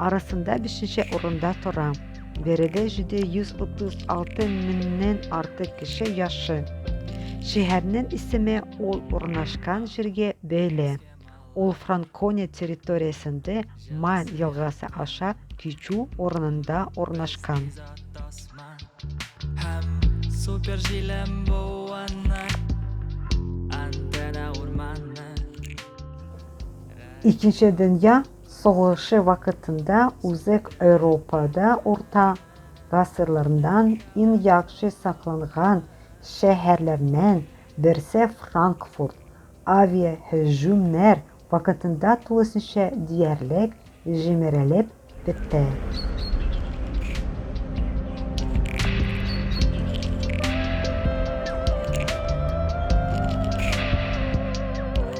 Арасында бишенче урында тора. Биредә җиде йөз утыз алты меңнән артык кеше яши. Шәһәрнең исеме ул урнашкан җиргә бәйле. Ул Франкония территориясендә Ман елгасы аша кичү урынында урнашкан. Супер җилем буанны, антенна урманны. Икенче дөнья Сугышы вакытында Үзәк Европада урта гасырлардан иң яхшы сакланган шәһәрләрнен берсе Франкфурт авиаһөҗүмнәр вакытында тулысынча диярлек җимерелеп бетте.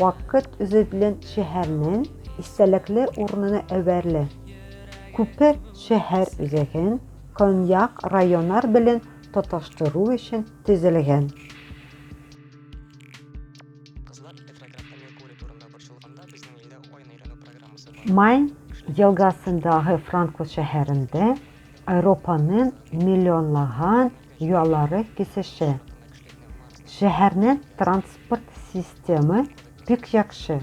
Вакыт үзе белән шәһәрнең истәлекле урынына әверелә. Күпер шәһәр үзәген көньяк районнар белән тоташтыру өчен төзелгән. Майн елгасындагы Франкфурт шәһәрендә Европаның миллионлаган Ялары кисешә. Шәһәрне транспорт системы бик яхшы.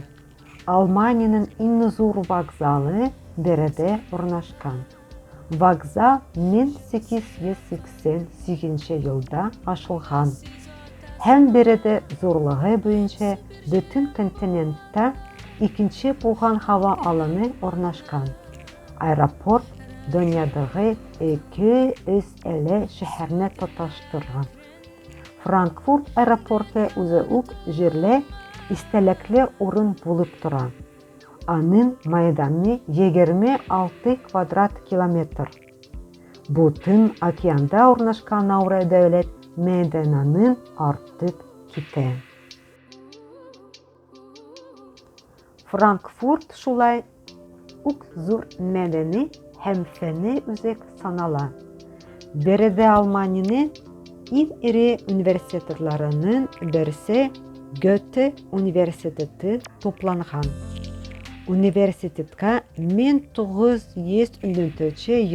Алманиянең иң зур вокзалы биредә урнашкан. Вокзал 1888 елда ачылган һәм биредә зурлыгы буенча бөтен континентта икенче булган һава алыны урнашкан. Аэропорт дөньядагы ике өстәле шәһәрне тоташтырган. Франкфурт аэропорты үзе үк җирле истәлекле урын булып тора. Аның мәйданы 26 квадрат километр. Бу Тын океанда урнашкан Науре дәүләт мәйданының артып китә. Франкфурт шулай ук зур мәдәни һәм фәнни үзәк санала. Биредә Алманиянең иң эре университетларының берсе Гёте университеты тупланган. Университетка 1900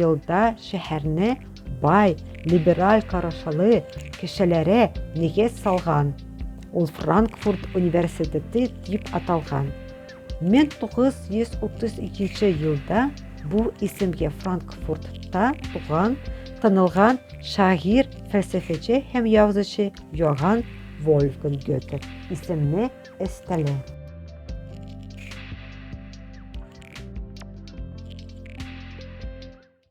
елда шәһәрне Бай, либераль карашылы кешеләре нигез салган. Ул Франкфурт университеты дип аталган. 1932 елда бу исемгә Франкфуртта туган, танылган шагыйрь, фәлсәфәче һәм язучы Йоганн Вольфган Гёте исемне өстәлә.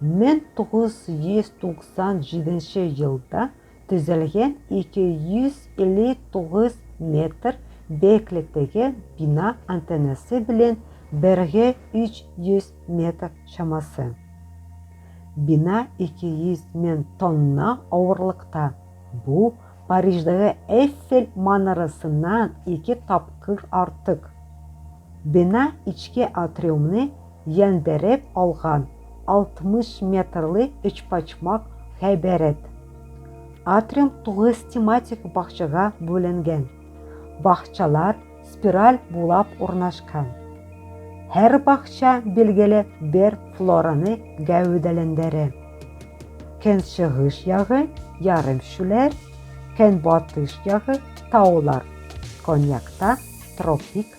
1997 елда төзелгән 259 метр бәяклектәге бина антеннасы белән бергә 300 метр чамасы. Бина 200 мен тонна авырлыкта. Бу Париждагы Эйфель манарасыннан ике тапкыр артык. Бина ичке атриумны яндереп алган 60 метрлы өчпочмак гыйбарәт. Атриум тугыз тематик бакчага бүленгән. Бакчалар спираль булап урнашкан. Һәр бакча билгеле бер флораны гәүдәләндерә. Көнчыгыш ягы, ярым шүләр, көнбатыш ягы, таулар, коньякта тропик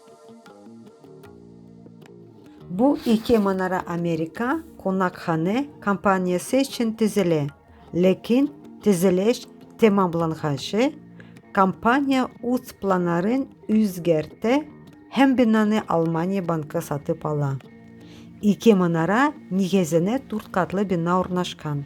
Бу ике манара Америка кунакханә компаниясе өчен төзелә. Ләкин төзелеш тәмамланганчы компания үз планнарын үзгәртә һәм бинаны Алмания банкы сатып ала. Ике манара нигезенә дүрт катлы бина урнашкан.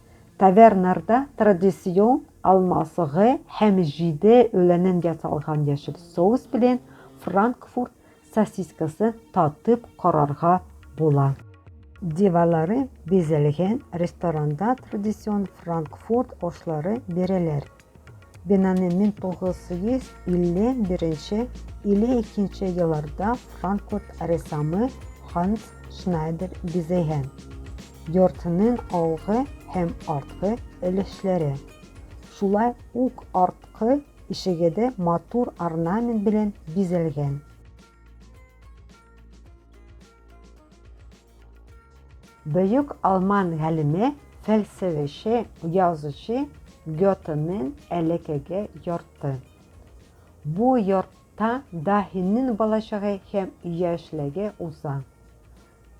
Таверналарда традицион алма согы һәм җиде үләннән ясалган яшел соус белән франкфурт сосискасын татып карарга була. Диварлары бизәлгән ресторанда традицион франкфурт ашлары бирәләр. Бинаны 1951 нче или икенче елларда Франкфурт рәссамы Ханс Шнайдер бизәйгән. Йортның алгы һәм арткы өлешләре, шулай ук арткы ишеге дә матур орнамент белән бизәлгән. Бөек алман галиме, фәлсәфәче, язучы Гётенен әләкәгә ярты. Бу яртта даһинен балачагы һәм яшьлеге уза.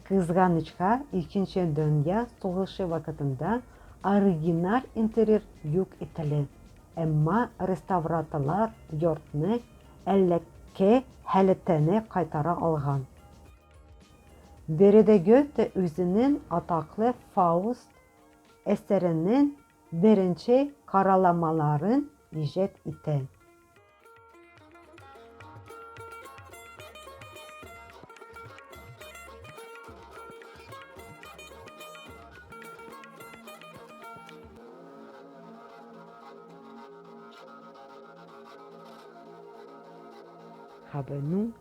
Кызганычка, Икенче дөнья сугышы вакытында оригиналь интерьер юк ителә, әмма реставраторлар йортны әлләке халәтенә кайтара алган. Биредә Гёте үзенең атаклы Фауст әсәренең беренче караламаларын иҗат итә. Хабенү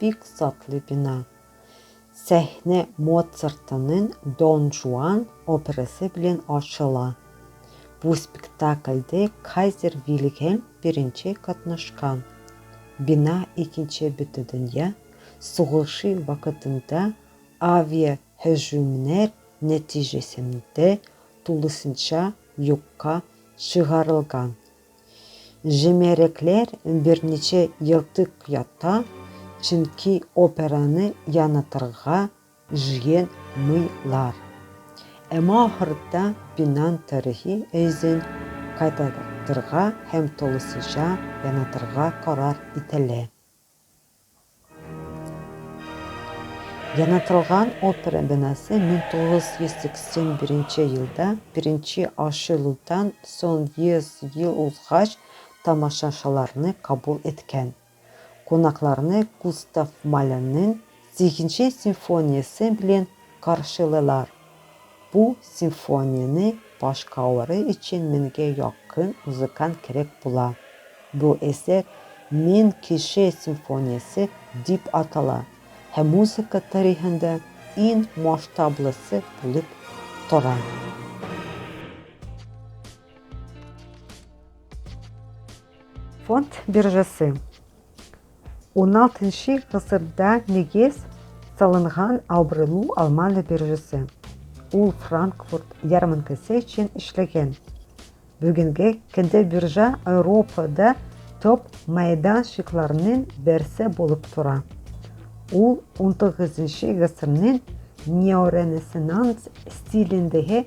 Бик затлый бина. Сәхнә Моцартының Дон Жуан образы белән ачыла. Бу спектакльдә кайзер Вильгельм I катнашкан. Бина Икенче бөтедөнья сугышы вакытында авиаһөҗүмнәр нәтиҗәсендә тулысынча юкка чыгарылган. Җимерекләр берничә елтык ята, чөнки операны янытырга җыен мыйлар. Әмма ахырда бинан тарихи эзен кайтартырга һәм тулысынча янытырга карар ителә. Янатылган опера бинасы 1981 елда беренче ачылудан соң 100 ел узгач тамашачыларны кабул иткән. Кунакларны Густав Малернең Сигенче симфониясе белән каршылыйлар. Бу симфонияне башкалары өчен меңгә якын музыкант кирәк була. Бу әсәр Мең кеше симфониясе дип атала һәм музыка тарихында иң масштаблысы булып тора. Фонд биржасы. 16нчы гасырда нигез салынган Аубрелу алманы биржасы. Ул Франкфурт ярминкәсе өчен эшләгән. Бүгенге көндә биржа Европада топ мәйданчыкларның берсе булып тора. Ул 19 гасырның неоренессанс стилендәге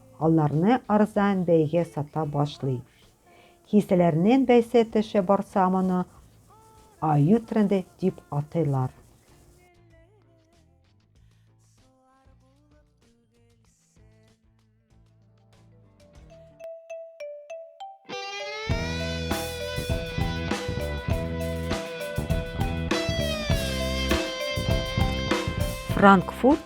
Аларны арзан бәйгә сата башлый. Киселәрнен бәйсе төшә барса моны аю тренды дип атыйлар. Франкфурт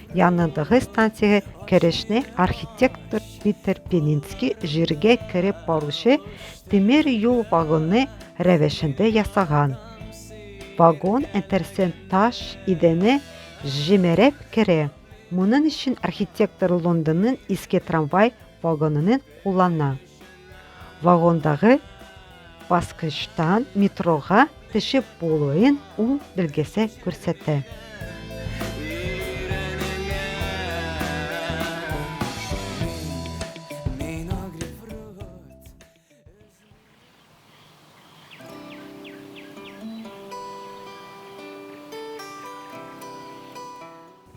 Янындагы станциягә керешне архитектор Питер Пенинский җиргә кереп баручы тимер юл вагоны рәвешендә ясаган. Вагон интерсен таш идәне җимереп керә. Моның өчен архитектор Лондонның иске трамвай вагонын куллана. Вагондагы баскычтан метрога төшеп булуын ул белгесе күрсәтә.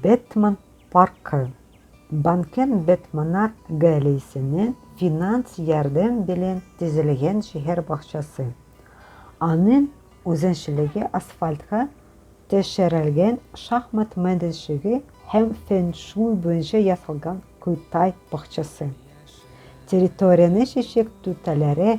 Бэтмен паркы. Банкем Бэтмена гаиләсенең финанс ярдәм белән төзелгән шәһәр бакчасы. Аның үзенчәлеге асфальтка төшерелгән шахмат мәйданчыгы һәм фэн-шуй буенча ясалган кытай бакчасы. Территорияне чәчәк түтәләре,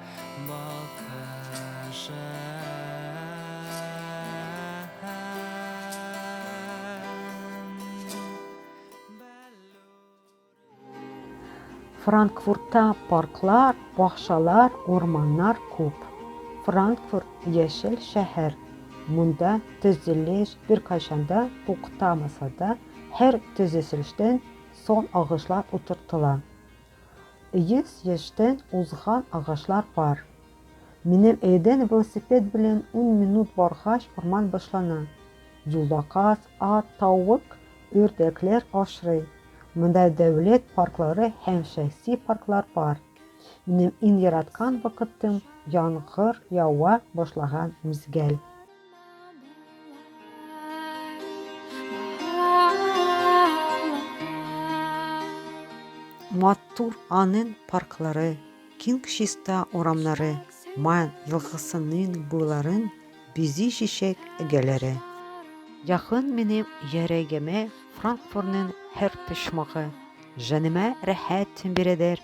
Франкфуртта парклар, бакчалар, урманнар күп. Франкфурт яшел шәһәр. Монда төзелеш беркайчан да туктамаса да, һәр төзелештән сон агышлар утыртыла. Йөз яшьтән узган агачлар бар. Минем өйдән велосипед белән ун минут баргач урман башлана. Юлда каз, ат, тавык, үрдәкләр ашрый. Монда дәүләт парклары һәм шәхси парклар бар. Минем иң яраткан вакытым, яңгыр ява башлаган мизгел. Матур Анын парклары, киң чиста урамнары, Ман елгасының буйларын бизи чәчәк эгаләре. Якын минем йөрәгемә Франкфурның һәр почмагы, Җаныма рәхәт бирәдер